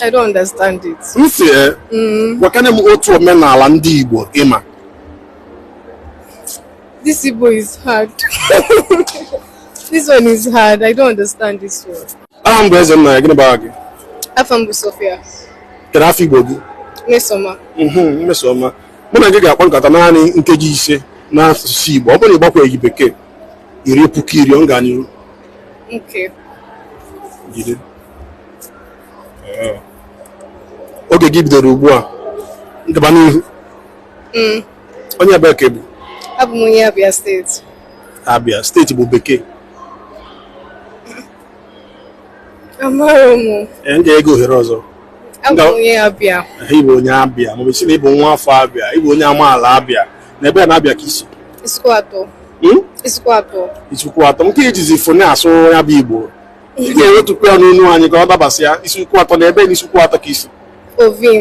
I don't understand it. M si e, mm. gwakene m otu omenala ndị Igbo ị ma. This Igbo is hard. This one is hard. I don't understand this one. Aha m bụ Ezennaya, gịnị bụ aha gị? Afa m bụ Sophia. Kedu afa Igbo gị? Mmesoma. Mhm, Mmesoma. Mụ na gị ga-akpa nkata naanị nkeji ise n'asụsụ Igbo. Ọ bụrụ na ị gbakwaghị bekee, i rie puku iri ọ ga n'iru. Okay. Jide. oge gị bidoro ugbu a gaba n'ihu mm. onye ebee ka ị bụ abụ m onye abịa steeti abịa steeti bụ bekee amaghị m ee m ga-enye gị ohere ọzọ abụ m onye abịa ị bụ onye abịa maọbụ ị sị na ị bụ nwa afọ abịa ị bụ onye amaala abịa na ebee na abịa ka i si Isuikwuatọ hmm? Isuikwuatọ Isuikwuatọ nke i jizi fone asụ ya bụ igbo ị ga-ewetụkwu ya n'onu anyị ka ọ dabasịa Isuikwuatọ na ebee na Isuikwuatọ ka i si ovim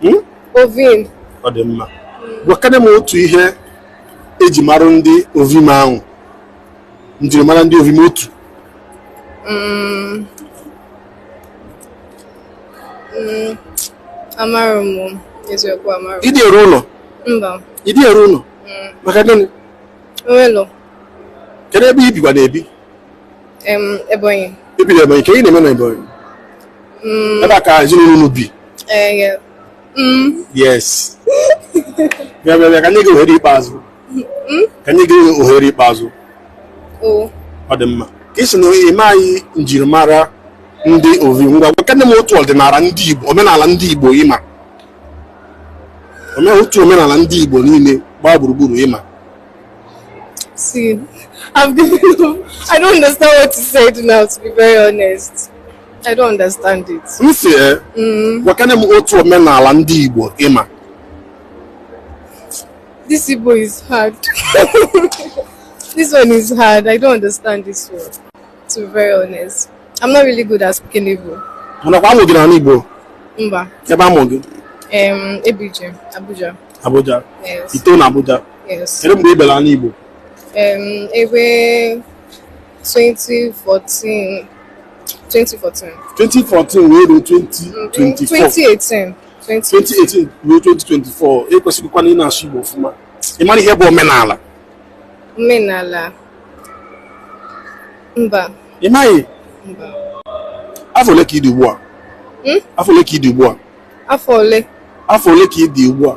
hmm? ovim ọ dị mma gwakene m otu ihe e ji mara ndị ovim ahụ njirimara ndị ovim otu hmm. Hmm. amarọ m eziokwu amarọ ị dị eru ụlọ mba ị dị eru ụlọ maka gịnị kedu ebe i bikwa na-ebi Em, Ebonyi. I bi na Ebonyi, kee ihe ị na-eme na Ebonyi? Mm, Ebe a ka ezinụlọ unu bi. eh, yeah. Mm, Yes. Bịa bịa bịa ka m nye gị ohere ikpeazụ. mm, Ka m nye gị ohere ikpeazụ. oh. Ọ dị mma. Ka ị sị na ị maghị njirimara ndị Ovim ngwa gwakene m otu ọdịnala ndị Igbo omenala ndị Igbo ị ma Ome- otu omenala ndị Igbo niile gbaa gburugburu ị ma See, I've given I don't understand what you said now, to be very honest. I don't understand it. M si ee, eh, gwakene m otu omenala ndị Igbo ị ma. This Igbo is hard. This one is hard. I don't understand this one, to be very honest. I'm not really good at speaking Igbo. Mana kwa a mụ gị n'ala Igbo? Mba. Kee ebe a mụ gị? Um, Abuja. Abuja. Abuja. Yes. I to na Abuja. Yes. Kedu mgbe ị bịara ala Igbo? Um, ebe 2014 2014 2014 wee ruo 2024 2018 ruo 2024 e kwesịrịkwa na ị na-asụ Igbo ọfụma ị mara ihe bụ omenala omenala mba ị maghị mba afọ ole ka ị dị ugbu a hmm? afọ ole ka ị dị ugbu a afọ ole afọ ole ka ị dị ugbu a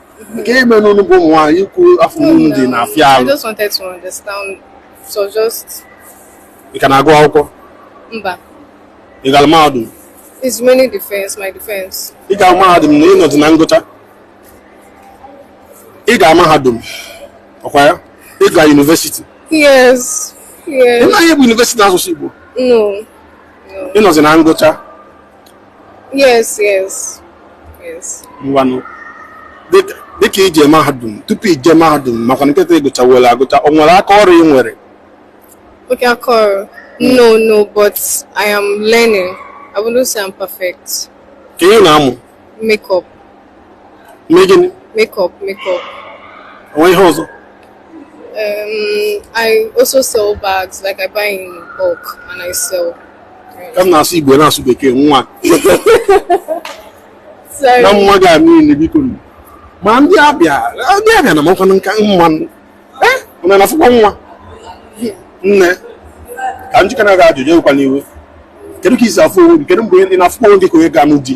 nke ị ma na unu bụ ụmụ nwaanyị ikwu afọ unu dị na-afịa I alụ just wanted to understand. So just ị ka na-agụ akwụkwọ mba. ị gara mahadum It's remaining defense, my defense. ị gara mahadum na ị nọzi na ngụcha ị ga mahadum ọkwa ya ị ga yunivesiti Yes. ị Yes. maghị ihe bụ yunivesiti n'asụsụ igbo No. ị nọzi na ngụcha yes yes yes ngwanụ dịka dịka ije mahadum tupu ije mahadum maka na kịta ị gụchawere agụcha o nwere aka ọrụ ị nwere okay aka ọrụ no no but i am learning i wouldn't say i'm perfect ka ị na-amụ makeup mee gịnị makeup makeup o nwere ihe ọzọ Um, I also sell bags, like I buy in bulk and I sell. Ka m na-asụ Igbo ị na-asụ Bekee nwa Sorry. na mma gị a niile biko nụ. ma ndị abịa ndị abịa na-amakwanụ nka mma nụ. Eh, unu na-afụkwa nwa nne ka m jụkene gị ajụjụ ewekwana iwe kedu ka i si afụ onwe gị kedu mgbe ị na-afụkwa onwe gị ka onye ga-anụ di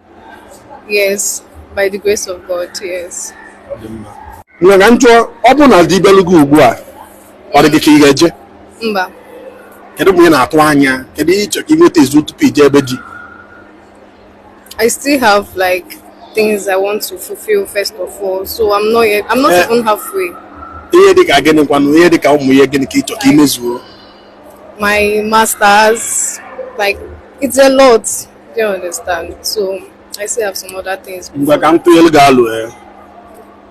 Yes, by the grace of God, yes. Nne ka m jụọ ọ bụrụ na di bịalụ gị ugbu a ọ dị gị ka ị ga-eje Mba, kedu ụmụ ihe ị na-atụ anya kedu ihe ị chọrọ ka ị nwetazuo tupu i jee be di I still have like things I want to fulfill first of all, so I'm not yet, I'm not Eh. even halfway. ihe dị ka gịnị kwanụ ihe dị ka ụmụ ihe gịnị ka ị chọrọ ka ị mezuo My masters, like it's a lot. Don't understand. So I still have some other things. ngwa ka m tụnyelu gị alo ee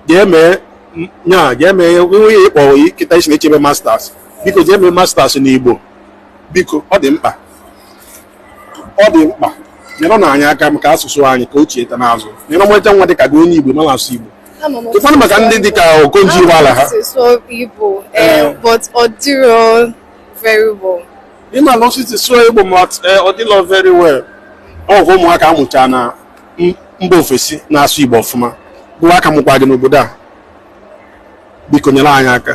jee mee m- nya jee mee nwunye ị kpọ kịta ị sị na-echebe masters biko jee mee masters n'igbo biko ọ dị mkpa ọ dị mkpa nyerenụ anyị aka maka asụsụ anyị ka o chieta n'azụ nelee ọmarịcha nwa dịka gị onye igbo amarọ asụ igbo I'm almost- ụfọdụ maka ndị dịka okonjo iweala ha amalụ m otu esi asụ igbo, eh, but ọ dịrọ very well. ị malụ otu esi asụ igbo ma eh, ọ dịlọ very well ọ bụ ụmụaka a mụcha na mba ofesi na-asụ igbo ọfụma bụ a ka mụkwa gị n'obodo a biko nyere anyị aka